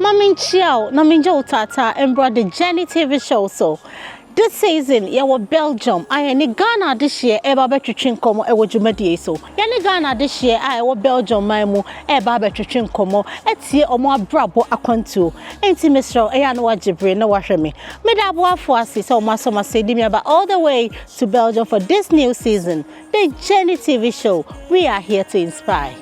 Ma me nkyia wo na mengye wo taataa mbra the journey tv show so this season yɛwɔ belgium a yɛne ghana adehyeɛ ɛreba abɛtwetwe nkɔmmɔ ɛwɔ dwumadie so yɛne ghana adehyeɛ a ɛwɔ belgium man mu ɛreba abɛtwetwe nkɔmmɔ atie ɔmo abrabɔ akwantuo enti mesrɛ wo ɛyɛ a na wagye bere na wahwɛ me meda aboafoɔ ase sɛ ɔmo asɔ m'ase de me aba all the way to belgium for this new season the journey tv show we are here to inspire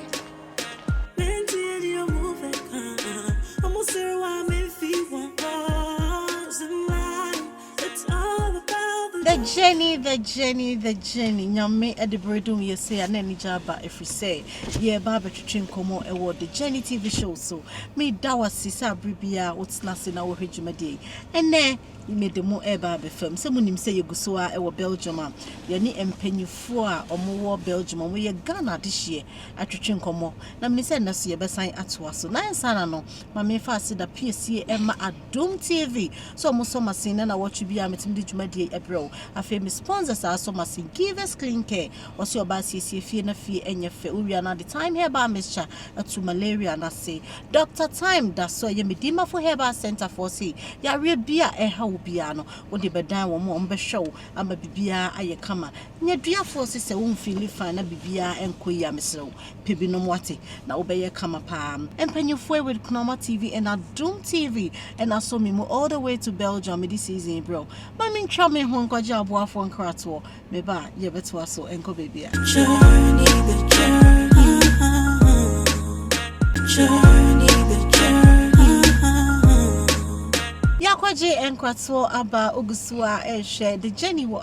The journey, the journey, the journey. Nyame ɛde bere dum yɛ sɛ a na anigye aba ɛfiri sɛ yɛreba abɛtwetwe nkɔmmɔ ɛwɔ The Journey TV show so. Meda wo ase sɛ abere biara wotena ase na wohwɛ dwumadie yi. Ɛnɛ mede mo ɛreba abɛfam sɛ monim sɛ yɛgu so a ɛwɔ Belgium a yɛne mpanyinfoɔ a wɔwɔ Belgium a wɔyɛ Ghana adehyeɛ atwetwe nkɔmmɔ, na menim sɛ ɛnnɛ so yɛbɛsan atoa so. Na ansa na no, ma memfa aseda piesie ɛma Adom TV sɛ ɔmo sɔ m'asen na nawɔtwe biara metumi de dwumadie yi ɛbrɛ wo. Afei me sponsors a asɔ m'asen, Givers Clean Care, ɔse ɔbaa siesie fie na fie ɛnyɛ fɛ, wo wie a na ɔde Thyme Herbal Mixture atu malaria no ase. Doctor Thyme da so ɛyɛ me Dimafo Herbal Centre foɔ se yareɛ biara a ɛha wo biara no, wode bɛdan wɔn a ɔmo bɛhwɛ wo ama bibiara ayɛ kama. Nneduafoɔ se sɛ wo feeli fine na biribiara nkɔ yie a mesrɛ wo pɛ bi nom wate na wo bɛyɛ kama paa mpanyinfoɔ with Kunama TV and Adom TV na asɔ me mu all the way to Belgium mede season yi brɛ wo ma me ntwa me ho nkɔgye aboafoɔ nkratoɔ me ba yɛ bɛtoa so nkɔ baabi a journey the journey journey the journey yɛ akɔgye nkratoɔ aba ogusu a ɛhwɛ the journey wɔ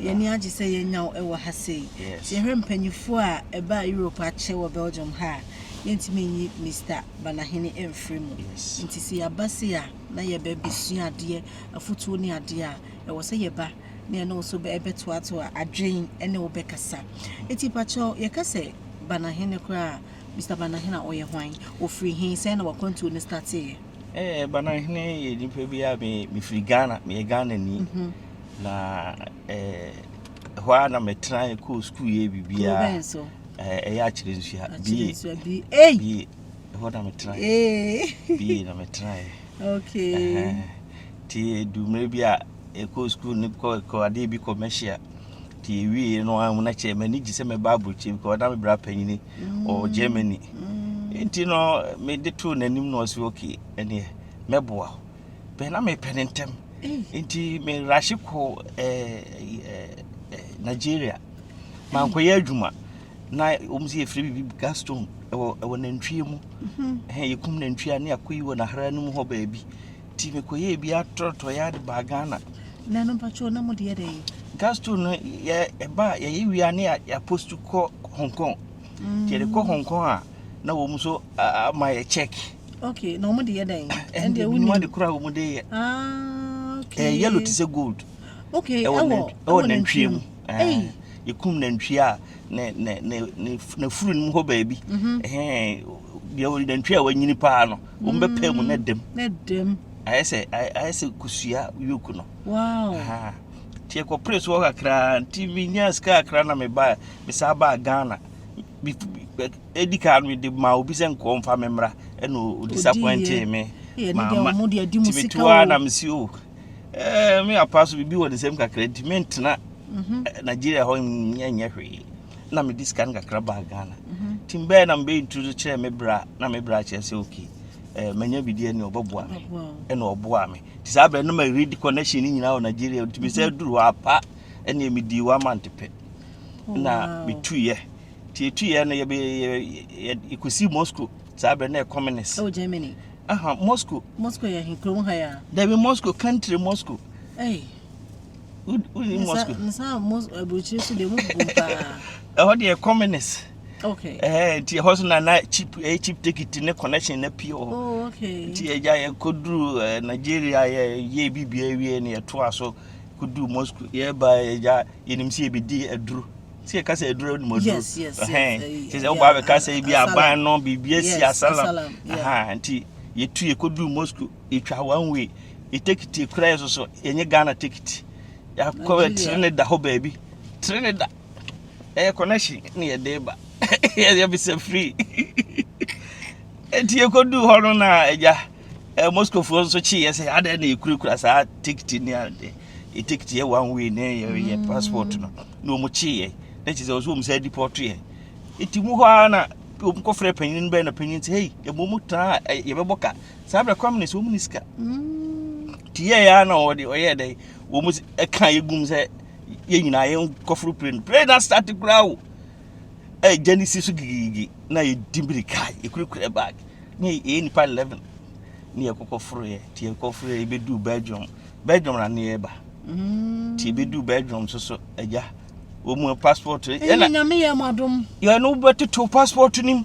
Yɛn ani agye sɛ yɛanya wo wɔ ha sei. Sɛ yɛhwɛ mpanyimfoɔ a ɛbaa Europe akyɛ wɔ Belgium ha a, yɛntumi nyi Mister Banahene mfiri mu. Nti sɛ yɛaba sei a, na yɛbɛbɛsua adeɛ, afotuo ne adeɛ a, ɛwɔ sɛ yɛba na yɛne wo nso bɛtoatoa adwene ne wo bɛkasa. Nti pakyɛw, yɛka sɛ Banahene koraa a, Mister Bananhene a ɔyɛ hwan? Ɔfiri he? Sɛn na w'akwantuo no stateeɛ? Eh, Bananhene yɛ nipa bi a me, mefiri Ghana, meyɛ Ghanani. Na eh, hɔ a na metenae kɔɔ sukuu yɛ biribiaa. Kuro bɛn so? Eh, ɛyɛ Akyere Nsua, BA. Akyere Nsua, BA. Ei! BA, hɔ na metenae. Ee! BA na metenae. Okay. Ɛhɛn. Nti ɛdu mmerɛ bi a, yɛkɔɔ sukuu no kɔ kɔ adeɛ bi commercial nti yɛwieɛ no a na kyɛ m'ani gye sɛ mɛba aburokyire because na me bra panyini wɔ germany nti no mede too n'anim na ɔsi okay ɛneɛ mɛboa wo bɛn na mepɛ ne ntɛm nti merahye kɔ eh, eh, eh, nigeria mankɔyɛ adwuma na wɔn sɛ yɛfiri biribi gaston ɛwɔ ɛwɔ nantwie mu ɛhɛn yɛkum nantwie a ne akɔyi wɔ n'ahara no mu hɔ baabi Nti mekɔyɛɛ bi atɔtɔeɛ ade baa Ghana. Na no mpakyɛw na mode yɛ dɛ? Gas stove no yɛ ɛba a yɛyɛ wia ne yɛapost kɔ Hong Kong. Nti yɛde kɔ Hong Kong a na wɔn nso ama yɛ check. Okay, na wɔn de yɛ dɛ? Ɛnde wɔn nim ade kora wɔn de yɛ. Ah, okay. Ɛyɛ yellow te sɛ gold. Okay, ɛwɔ ɛwɔ nantwie mu. Ɛyɛ yɛkum nantwie a ne ne ne ne furu no mu hɔ baabi. Ɛhɛn, deɛ nantwie a wanyini paa no. wɔn bɛ pɛn mu ne mm, dɛm. Ne dɛm. Ayɛ sɛ ayɛ sɛ kosua yoku no. Wow. Aha. Tiɛ kɔ pere so kakra nti mi nya sika kakra na mi ba mi sa ba Ghana. Mi edi kan mi de ma obi sɛ nkɔ nfa mi mra ɛna o disappoint mi. Ma ma ti mi tu a na mi si o. Oh, Ɛɛ eh, mi apa so bibi wɔ ne nsam kakra nti mi ntena mhm. eh, Nigeria hɔ nyɛ nyɛ hwee. na mede sika no kakra baa ghana mhm. nti mbɛyɛ na mebɛyɛ nturu so kyerɛ me bra na me bra kyerɛ sɛ okay eh, manya bidi ɛne ɔbɛboa me ɛna ɔboa me nti saa berɛ no ma read connection no nyinaa wɔ nigeria nti me sɛ mhm. duru hɔ apa ɛne medii one month pɛ oh, na metuiɛ nti ɛtuiɛ no yɛkɔsi moscow saa berɛ na ɛcommunist oh, Germany. Aha, Moscow. Moscow yɛ kurom ha ya. Dabi Moscow, country Moscow. Hey. wonim moscow nsa mos aburukyiri so deɛ mobom paa ɛhɔ deɛ communist okay ɛhɛ nti ɛhɔ so na na chip ɛyɛ chip ticket ne connection na pie wɔ hɔ oh okay nti ɛgya yɛ koduru ɛɛ nigeria yɛ yɛ bibi awie ne yɛto aso koduru moscow yɛba ɛgya yɛnim sɛ yɛbɛdi aduro sɛ yɛka sɛ aduro ne mɔduro yes yes ɛhɛn nti sɛ wobaa bɛka sɛ bi aban no biribi asi asalam ɛhɛn nti yɛtu yɛkoduru moscow Yɛtwa one way. Yɛ tekiti koraa yɛ soso. Yɛnyɛ Ghana tekiti. Yɛakɔ bɛ tiri ne da hɔ baabi. Tiri ne da. Ɛyɛ connection ne yɛ de ba. Yɛ bisa free. Eti yɛkɔ du hɔ no na ɛgya. Eh, Moscow foɔ nso kye yɛ sɛ adɛ na yɛkurakura saa tekiti ne ade. Yɛ tekiti yɛ one way ne yɛ yɛ passport no. Na wɔn kye yɛ. Na kyerɛ sɛ wɔn nso wɔn sɛ deport yɛ. Eti mu hɔ ara na wɔn kɔfrɛ panyin bɛn na panyin sɛ hey, yɛ mo mu tena a yɛbɛbɔ ka. saa berɛ kora mene sɛ wɔn ni sika nti yɛɛ yɛa na wɔde ɔyɛɛ dɛ wɔn mu ɛka yɛ gum sɛ yɛ nyinaa yɛ nkɔforo pere no pere na start koraa o ɛgya ne si so gigigigi na yɛdi mirika yɛkurakura bag na yɛyɛ nipa 11 ne yɛkɔkɔforo yɛ nti yɛkɔforo yɛ yɛbɛduu belgium belgium na ne yɛba nti yɛbɛduu belgium so so ɛgya wɔn mu passport ɛna nyame yɛ mo adom yɛne wobɛtoto passport no mu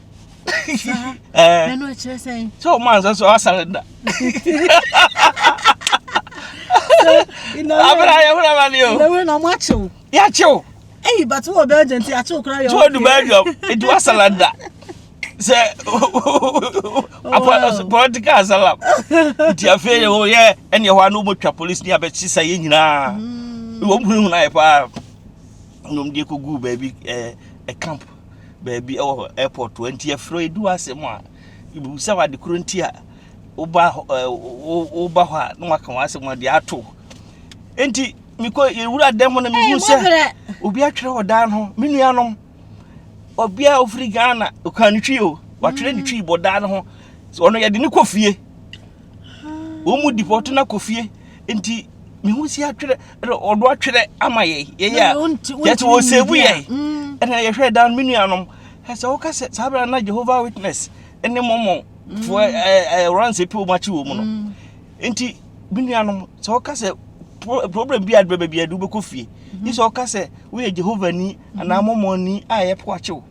ɛno ɛkyerɛ sɛn sɛ ɔma ansa so asare da abra yɛhora ma ne o yɛhora na ɔmo akyew yɛakyew ɛyi bate wɔ belgium nti akyew kora yɛ ɔkɛ tuodu belgium nti wasala da sɛ political asylum nti afei yɛ hɔ yɛ ɛne ɛhɔ ano ɔmɔtwa police ne abɛkye sa yɛ nyinaa wɔm hunahuna yɛ paa nom deɛ kɔguu baabi camp baabi wɔ airport hɔ. Nti yɛfrɛ yi du asɛm a, yɛbɛbisa wo ade koro nti a woba hɔ ɛɛ woba hɔ a na waka wɔn asɛm wɔde ato. Nti mekɔ yɛwura dan mu no mehu sɛ obi atwerɛ wɔ dan ho me nuanom ɔbea a ofiri Ghana ɔkaa ne twi o watwerɛ ne twi bɔ dan ho ɔno yɛde ne kɔ fie. wɔn mu di pɔtɔ na kɔ fie nti mehu si atwerɛ ɔdo atwerɛ ama yɛ yɛyɛ a yɛte wɔ sɛbu yɛ ɛna yɛhwɛ dan me nuanom ɛsɛ woka sɛ saa berɛ na jehovah witness ne mɔmɔ foɔ ɛranse pɛ wɔn akyi wɔ mu no nti me nuanom sɛ woka sɛ problem bi adebɛ baabi ade wobɛkɔ fie ne sɛ woka sɛ woyɛ jehovah ni anaa mɔmɔ ni a yɛpɛ wakyew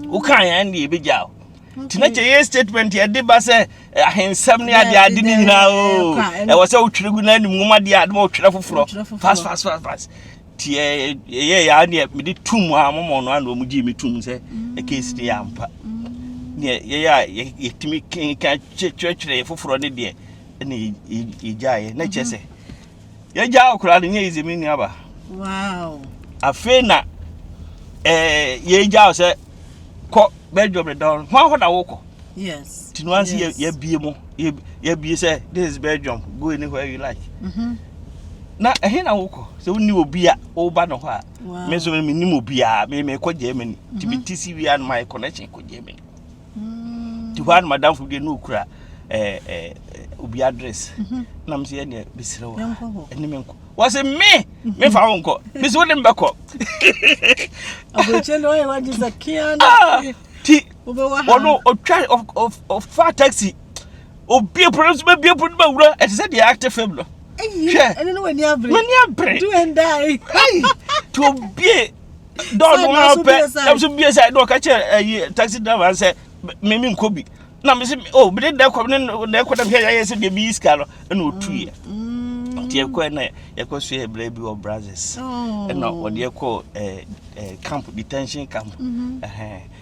woka yɛn ne yɛbɛgyaa nti na kyɛ yɛ statement yɛde ba sɛ ahensɛm ne ade ade ne nyinaa o ɛwɔ sɛ wotwerɛ gu na anim nwoma deɛ adoma wotwerɛ foforɔ fas fas fas fas nti ɛyɛ yɛ a neɛ mede tom a momɔ no ana ɔmu gyee me tom sɛ ɛkɛsi ne yɛ ampa neɛ yɛyɛ a yɛtumi kenka kyerɛkyerɛ foforɔ ne deɛ ɛne yɛgyaeɛ na kyerɛ sɛ yɛgyaa wo koraa no nyɛ yize me nuaba wow afei na eh, yɛgyaa wo sɛ kɔ bɛdwo me dɔn ho ahɔ na wokɔ yes nti no anse yes. yɛbie mu yɛbie sɛ this is belgium go anywhere you like mm -hmm. na ɛhe na wokɔ sɛ wonni obi a woba no hɔ a me nso menim obiaa mekɔ germany nti mete si wia no my connection kɔ germany nti hɔ a na madamfo deɛ na ɔkura eh, eh, eh, obi address mhm. na mesɛ yɛdeɛ bɛsrɛ wɔ ɛne me nkɔ wɔse me mhm. mefa wo nkɔ me sɛ wode mbɛkɔ ti ɔno ɔtwa ɔfa taxi obie pono nso bɛbie pono no bɛwura ɛte sɛ deɛ acte fam no hwɛ m'ani abere ti obie dɔɔ no ara pɛ ɛm so bie sɛ dɔɔ ka kyerɛ ɛyi eh, taxi driver sɛ mɛmi nkɔ bi na mɛ sɛ o bi de dɛ kɔ ne dɛ kɔ dɛm hwɛ yɛayɛ sɛ deɛ bi yi sika no ɛna otu yɛ nti ɛkɔ ɛna yɛkɔ so yɛ brɛ bi wɔ brazos ɛna ɔde ɛkɔ ɛɛ camp detention camp ɛhɛn.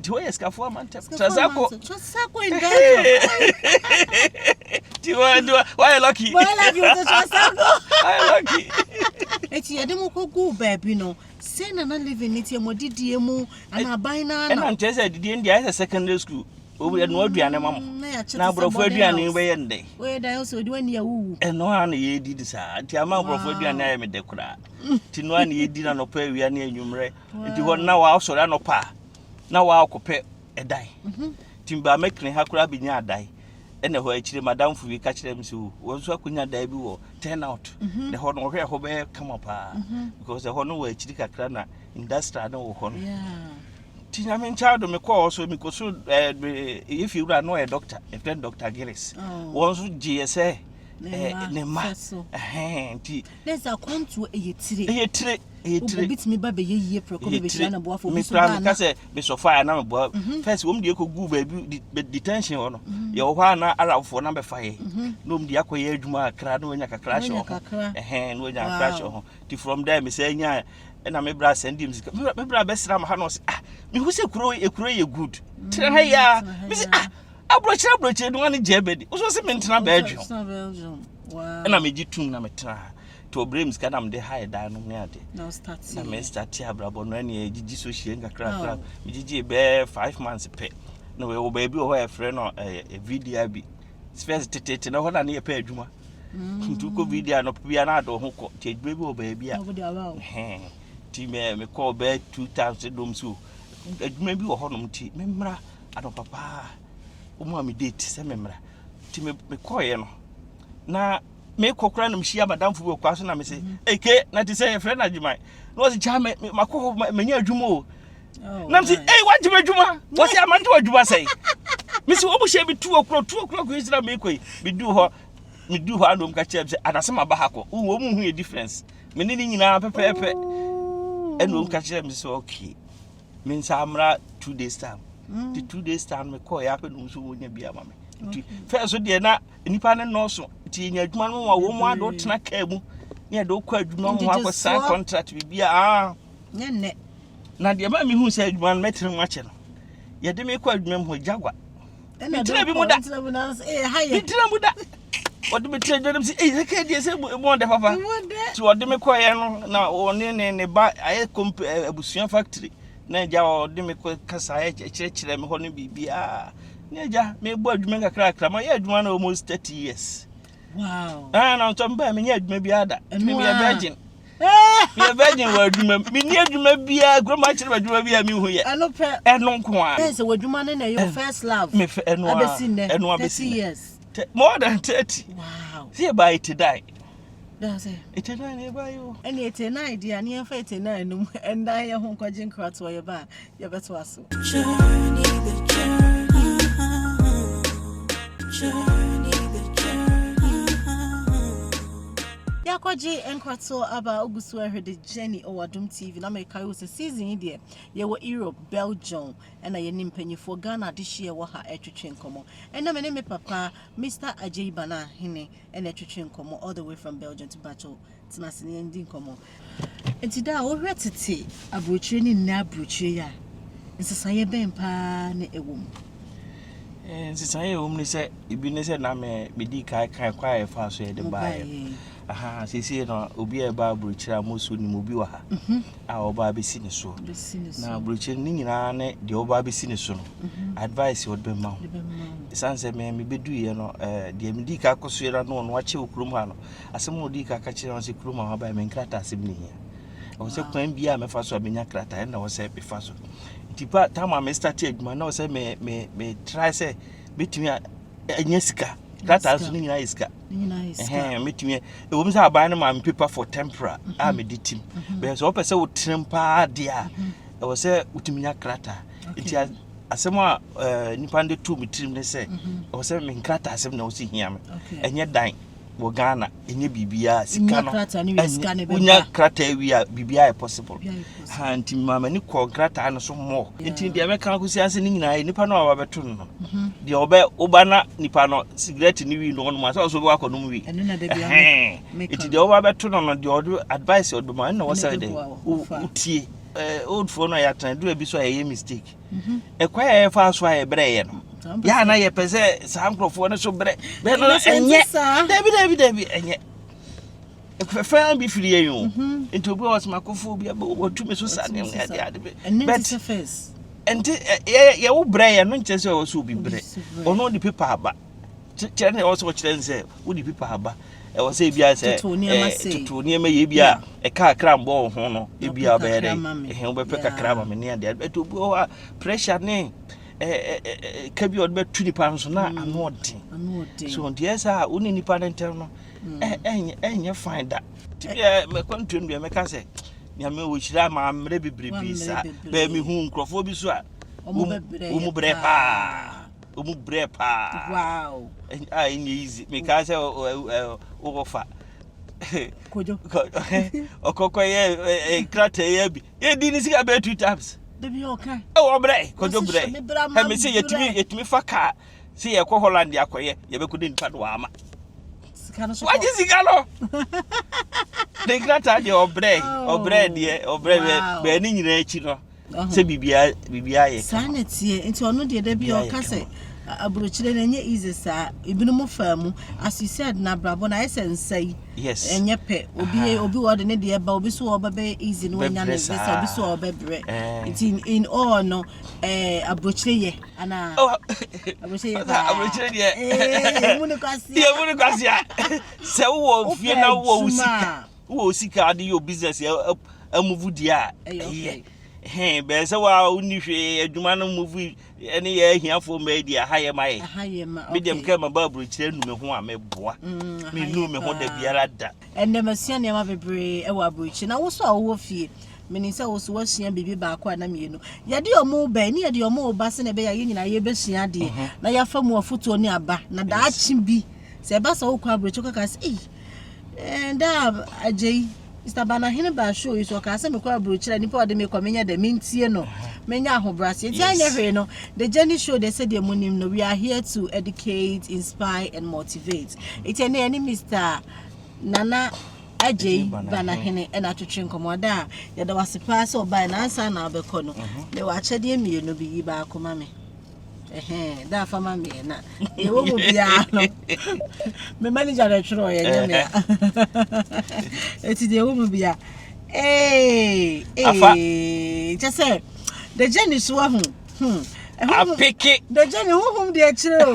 Nti woyɛ sikafoɔ ama ntɛm. Sasako. Sasako in Belgium. Nti wa nti wa wayɛ lucky. Boy love you to Sasako. Wayɛ lucky. Eti yɛde mo kɔ gu baabi no. Sɛ na na living ne tiɛ mo didie mu ana aban na na. Ɛna nkyɛn sɛ didie ndi ayɛ sɛ secondary school. Obi yɛ no aduane ma mo. Mm, na yɛ akyɛ. Na aborɔfo aduane bɛyɛ ndɛ. Oyɛ dan sɛ odi wani awuwu. Ɛno a na yɛdi ne saa. Nti ama aborɔfo aduane ayɛ me dɛ koraa. Nti no a na yɛdi na nɔpɛ awia ne anwummerɛ. nti hɔ na wɔasɔre anɔpa a na wɔakɔpɛ ɛdan mhm. nti mbaa mɛkene ha koraa bɛnya adan ɛna hɔ akyire madamfo bi ka kyerɛ me sɛ o wɔn nso akɔnya dan bi wɔ turn out mhm. na hɔ no ɔhwɛ ɛhɔ bɛyɛ kama paa mhm. because ɛhɔ no wɔ akyiri kakra na industrial no wɔ hɔ no nti nyame nkyɛn do mekɔɔ so mekɔ so ɛɛ ɛyɛ fie wura no ɔyɛ doctor ɛfrɛ no doctor gillis oh. wɔn nso gye yɛ sɛ ne mma nti. ne nsa kwantuo ɛyɛ tire. ɛyɛ tire. ɛyɛ tire obi tumi ba bɛyɛ yie prɛko bɛ bɛhyia no boafo obi so baa na meka sɛ mesɔfaa na meboa mhm. first wɔm deɛ kɔgu baabi detention hɔ no mhm. yɛwɔ hɔ a na arabfoɔ na bɛfa yɛ mhm. na wɔm deɛ akɔyɛ adwuma akra na wɔanya kakra hyɛ wɔ ho ɛhɛn na wɔanya kakra hyɛ wɔ ho nti from there mesɛ nya ɛna me bra sɛn di mu sika me bra bɛsra ma ha na ɔsɛ ah mehu sɛ kuro ekuro yɛ good tena ha yia me sɛ ah aburokyerɛ aburokyerɛ ni wɔn ani gye ɛbɛ di wosɔ sɛ mentena bɛɛdwom ɛna megye tum na metena ha to bere mu sika na mede hae dan no ne ade na mestate abrabɔ no ɛne ɛgyegye so hyia nkakrakra megyegye bɛɛ five months pɛ na wɔ baabi wɔ hɔ a ɛfrɛ no vidia bi spɛs tetete na hɔ na ne yɛpɛ adwuma nti wokɔ vidia no bia na adɔ ho kɔ nti adwuma bi wɔ baabi a nti mekɔɔ bɛɛ two times dom so adwuma bi wɔ hɔnom nti memmra anɔpa paa ɔmu a medate sɛ memmra nti mekɔɔeɛ no na me kɔ kora na me hyia madamfo bi wɔ kwan so na me se eke na te sɛ yɛfrɛ no adwuma na ɔse kya me makɔ hɔ manya adwuma o oh, na me se ei wagye m'adwuma wɔse amante w'adwuma sɛe me se wɔmu hyɛ me tu ɔkorɔ tu ɔkorɔ kɔ ɛsira me kɔ yi medu hɔ medu hɔ anom ka kyerɛ me sɛ anase maba ha kɔ wɔ mu hu yɛ difference me ne ne nyinaa pɛpɛɛpɛ ɛnom ka kyerɛ me sɛ okay me nsa amra two days time mm. the two days time me kɔɔ yɛ apɛ nom so wɔnya bi ama me fɛ so deɛ na nnipa no nnɔɔso nti yɛnya adwuma no ma wɔn ade wotena kaa mu ne yɛde wokɔ adwuma ho akɔsan contract biribi a ah. nyɛ nnɛ na deɛ ma mehu sɛ adwuma no mɛtena mu akyɛ no yɛde mekɔ adwuma mu hɔ gyagua metena bi mu da metena mu da ɔde me tena adwuma mu sɛ ɛyɛ ka deɛ sɛ mu ɔdɛ papa nti ɔde me kɔeɛ no na ɔne ne ne ba ayɛ abusua factory na agya a ɔde me kɔ kasa ɛkyerɛkyerɛ me hɔ no biribiara na agya mebɔ adwuma nkakrakra mayɛ adwuma no almost thirty years wow. ah, na ɔtɔ mbaa menyɛ adwuma biara da tumi meyɛ virgin meyɛ virgin wɔ adwuma mu menni adwuma biara kuroma akyerɛ adwuma bi a mehu yɛ ɛno nko a sɛ w'adwuma no na ɛyɛ eh, first love ɛno abɛsi nnɛ ɛno abɛsi nnɛ more than thirty wow. sɛ yɛbaa ɛte dae Dase. Ete nine na yɛba yi o. Ɛne ete nine deɛ a ne yɛmfa ete nine no mu ɛndan yɛ ho nkɔgye nkratoɔ yɛba a yɛbɛtoa so. Journey the journey. Journey the journey. Yɛakɔgye nkratoɔ aba a wogu so ɛhwɛ the journey wɔ Adom TV na mekae wo sɛ season yi deɛ yɛwɔ Europe, Belgium ɛna yɛne mpanyifoɔ Ghana adehyeɛ wɔ ha ɛtwetwe nkɔmmɔ. Ɛna me ne me papa Mr. Agyei Bana Hene ɛna ɛtwetwe nkɔmmɔ all the way from belgium to bato tena ase ne yɛndi nkɔmmɔ nti da a wohwɛ tete aburokyire ne nnɛ aburokyire yi a nsesaeɛ bɛn paa ne ɛwɔ mu eh, nsesaeɛ a ɛwɔ mu ne sɛ ebi ne sɛ na medi kan kan kwan a yɛfa so yɛde baeɛ aha seesei no obi a ɛba aburokyire a mosuo nim obi wɔ ha mhm. a ɔba abɛsi ne soɔ na aburokyire no ne nyinaa ne deɛ ɔba abɛsi ne so no mhm. advice ɔde bɛma wo ɛsiane sɛ me mebɛduiɛ no eh, deɛ medi ka kɔ so yɛra no ɔno akyɛ wo kurom ha no asɛm a ɔdi ka ka kyerɛ no sɛ kurom a wabaɛ me nkrata asɛm ne hia ɛwɔ sɛ kwan biaa mɛfa so a menya krata ɛna wɔ sɛ mefa so nti pa tam a mestate adwuma na wɔ sɛ me me me try sɛ bɛtumi a ɛnyɛ sika krataa so no nyinaa yɛ sika mɛtumi ɛwom sɛ aban no ma me paper for tempera mhm. a mede tim mhm. bɛn sɛ wopɛ sɛ wotrem paa deɛ a mhm. ɛwɔ sɛ wotumi nya krataa nti asɛm a eh, nipa no de too me tirim ne sɛ ɛwɔ sɛ menkrataa asɛm na wo sɛ hia me ɛnyɛ dan wɔ ghana ɛnyɛ biribiara sika no wonya krataa wie a biribiara yɛ possible ha nti maama ni kɔɔ krataa no so mmɔ nti deɛ mɛka akɔsi ase no nyinaa nipa no a wabɛto no no mhm. deɛ ɔbɛ woba na nipa no sigaret no wi no ɔnom asɛ ɔso bɛwɔ akɔ nom wi nti deɛ woba bɛto no no deɛ ɔde advice ɔdoma ɛna wɔsɛ dɛ wotie old foɔ no a yɛatena dura bi so a yɛyɛ mistake mhm. ɛkwan a yɛfa so a yɛbrɛ yɛ no yɛ a na yɛpɛ sɛ saa nkurɔfoɔ no so brɛ bɛɛ no ɛnyɛ dabi dabi dabi ɛnyɛ fɛfɛn bi firi yɛn o mhm. nti obi wɔ soma kofoɔ bi wɔtumi so sa ne ade ade bi but nti yɛwo brɛ yɛ no nkyɛ sɛ ɔwɔ sɛ obi brɛ ɔno de pepa aba kyerɛ ne ɛwɔ sɛ ɔkyerɛ ne sɛ wode pipa aba ɛwɔ sɛ ebia sɛ toto nneɛma yɛ ebia ɛka akra mbɔ wɔ ho no ebia ɔbɛyɛ dɛ ɛhɛn wobɛpɛ kakra ma me ne adeɛ ɛto bi wɔ hɔ a pressure ne ɛka bi a ɔde bɛto nipa no so na mm. ano ɔden so nteɛ sɛ a wo ne nipa no ntɛm no mm. ɛnyɛ fine da tibia mɛkwantuam deɛ mɛka sɛ nyame wɔhyira ma mmerɛ bebrebe saa bɛɛ mehu nkurɔfoɔ bi so a wo mu berɛ paa ɔmu brɛ paa wow a ɛnyɛ easy mekaa sɛ wokɔfa kojo ɔkɔkɔ yɛ krata yɛ bi yɛdi ne sika bɛyɛ two times dabi ɔka ɛwɔ brɛ kojo brɛ ɛmi sɛ yɛtumi yɛtumi fa kaa sɛ yɛkɔ holland akɔyɛ yɛbɛkɔ de nipa no waama wagye sika no ne krata deɛ ɔbrɛ ɔbrɛ deɛ ɔbrɛ bɛɛ ne nyinaa akyi no sɛ biribiara biribiara yɛ saa na teɛ nti ɔno deɛ da bi ɔka sɛ aburokyire no ɛnyɛ easy saa ebinom faa mu as you said na abrabɔ na ayɛ sɛ nsa yi yes ɛnyɛ pɛ obi yɛ obi ɔde ne deɛ ba obi so ɔbɛbɛyɛ easy no ɔnya ne visa obi so ɔbɛbrɛ eh. nti in, in all no ɛɛ aburokyire yɛ anaa oh. aburokyire yɛ paa aburokyire deɛ ɛɛ eh, yɛ mu ne kwasi yɛ mu ne kwasi a sɛ wowɔ fie na wowɔ wusi ka. Wowɔ wo sika a wode yɛ wo business amuvu deɛ a, ɛyɛ. Hɛn, bɛyɛ sɛ wa a wonni hwee, adwuma no muvu ne yɛ ahiafoɔ mma yi deɛ, aha yɛ ma yɛ. Aha yɛ ma, okay. Me deɛ mekɛ ma ba aburokyire anu me ho a, meboa. Mm, me nu me ho da biara da. Ɛnna masua nneɛma bebree wɔ aburokyire. Na wo so a wowɔ fie, menim sɛ wo so woasua biribi baako a na mmienu. Yɛde wɔn bɛn ne yɛde wɔn ba sɛ na ɛbɛyɛ a yɛn nyinaa yɛbɛsua adeɛ na yɛafa mu afotuo ne aba. Na daakye bi, sɛ ɛba sɛ wokɔ aburokyire kɔka sɛ, ei, ɛɛ daa agye yi sabanahene baa show yi so ɔkaa sɛ mekɔ aburokyerɛ nipa ɔde mekɔ menyɛ dɛ mentie no menya ahobrɛaseɛ nti anyɛ hwee no the journey show deɛ sɛdeɛ monim no we are here to educate inspire and motivate ɛti ɛne ɛne mr nana agyei banahene ɛna atwetwe nkɔmmɔ ada a yɛda wase paa sɛ ɔbae na ansa na abɛkɔ no mewɔ akyɛdeɛ mmienu bi yi baako ma me da afa ma meɛ na ɛwɔ mu biara no me manager na ɛtwerɛ ɔyɛ nyɛ me a ɛti deɛ ɛwɔ mu bia ee ee kyɛ sɛ the journey so ahu hmm apeke the journey honhom deɛ akyerɛ o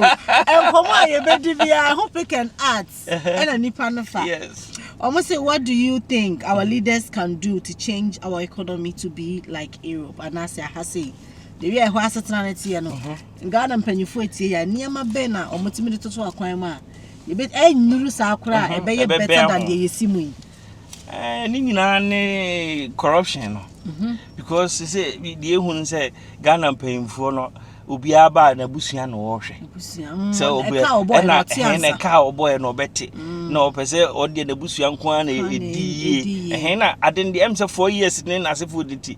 nkɔmmɔ a yɛbɛdi biara ho pick and art ɛna nipa no fa yes Omo say, what do you think our leaders can do to change our economy to be like Europe? And I say, I say. deɛ wia ɛhɔ asetena no teɛ no ghana mpanyinfoɔ etie yɛ nneɛma bɛn na wɔn ti mi de toto akwan mu a ebe ɛnyuru saa koraa a ɛbɛyɛ bɛtɛ dan deɛ yɛsi mu yi. ɛɛ ne nyinaa ne corruption no because sɛ deɛ ehu no sɛ ghana mpanyinfoɔ no obiara ba na abusua na wɔhwɛ sɛ obiara ɛna ɛhɛn na ɛka a ɔbɔɛ na ɔbɛte na ɔpɛ sɛ ɔdeɛ na abusua nko ara na edi yie ɛhɛn na adeɛ ɛm sɛ four years ne n'asefoɔ de ti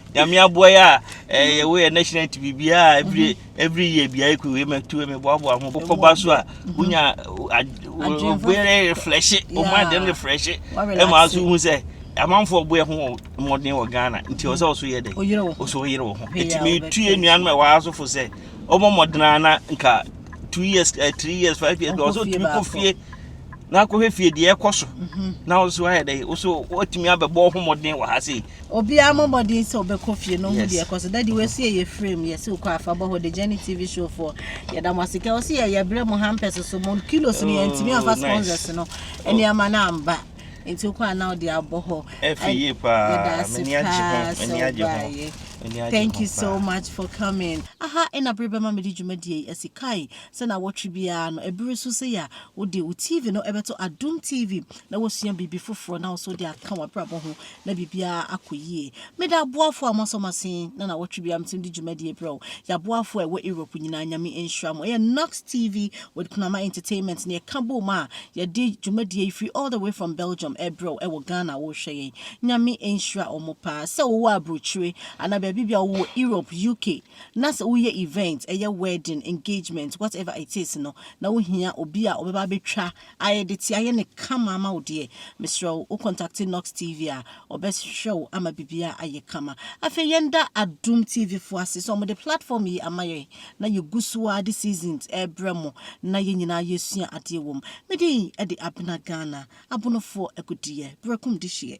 nyame aboa yɛ a eh, yɛwɔ yɛ national ti biribiaa every mm-hmm. every year biaa ɛkɔ wei matu meboaboa ho wokɔba so a mm-hmm. wonya wobɛyɛ refreshe ɔma adɛm refreshe ɛma so hu sɛ amanfoɔ boɛ ho mmɔden wɔ ghana nti ɔsɛ ɔso yɛ dɛ ɔsɛ ɔyere wɔ ho ɛti metu yɛ nnuanom a ɛwɔ asofo sɛ ɔmɔ mmɔdena na nka two years uh, three years five years bi ɔsɛ ɔtumi kɔ fie na akɔhwɛ fie deɛ ɛkɔ so na ɔso ayɛ dɛ ɔsɛ ɔtumi abɛbɔ ho mmɔden wɔ ha sei Obiara mo mmɔden sɛ ɔbɛkɔ fie no hu deɛ ɛkɔ so dadi wɔasi ɛyɛ frame yɛsi wokɔ afa bɔ hɔ de Jenny TV show foɔ yɛda mo ase kɛ ɔsi yɛ yɛbrɛ mo hampers so mo kilos no yɛntumi afa oh, sponsors no nneɛma no amba nti wokɔ a na ɔde abɔ hɔ yɛda ase paa sɛ wobaeɛ Thank you so much for coming. Aha ɛna bere bɛma mede dwumadie yi asi kae sɛ na wɔtwe biara no ɛbere so sɛ yɛ a wode wo TV no ɛbɛto Adom TV na wɔsua biribi foforɔ na wɔso de aka w'abrabɔ ho na biribiara akɔ yie. Meda aboafoɔ a moasɔ mo ase na na wɔtwe biara metim de dwumadie brɛ wo. Yɛaboafoɔ a ɛwɔ Europe nyinaa nyame nhyira mo. Ɛyɛ Knox TV with Kunama Entertainment na yɛka bom a yɛde dwumadie yi firi all the way from Belgium ɛbrɛ wo ɛwɔ Ghana wohwɛ yɛn. Nyame nhyira ɔmo paa. Sɛ wowɔ aburokyire anaa baabi bi a wowɔ Europe, UK na sɛ woyɛ event, ɛyɛ wedding, engagement, whatever it is no na wohia obi a ɔbɛba abɛtwa Ayɛ de tia yɛ ne kama ama wo deɛ mesrɛ wo wo contacte Nox TV a ɔbɛ hwɛ wo ama bibia ayɛ kama afei yɛn da Adom TV foɔ ase sɛ ɔmo de platform yi ama yɛn na yɛ gu so a de seasons ɛbrɛ mo na yɛn nyinaa yɛ sua adeɛ wɔm me din ɛde Abena Ghana abonofoɔ agudeɛ berɛkum de hyeɛ.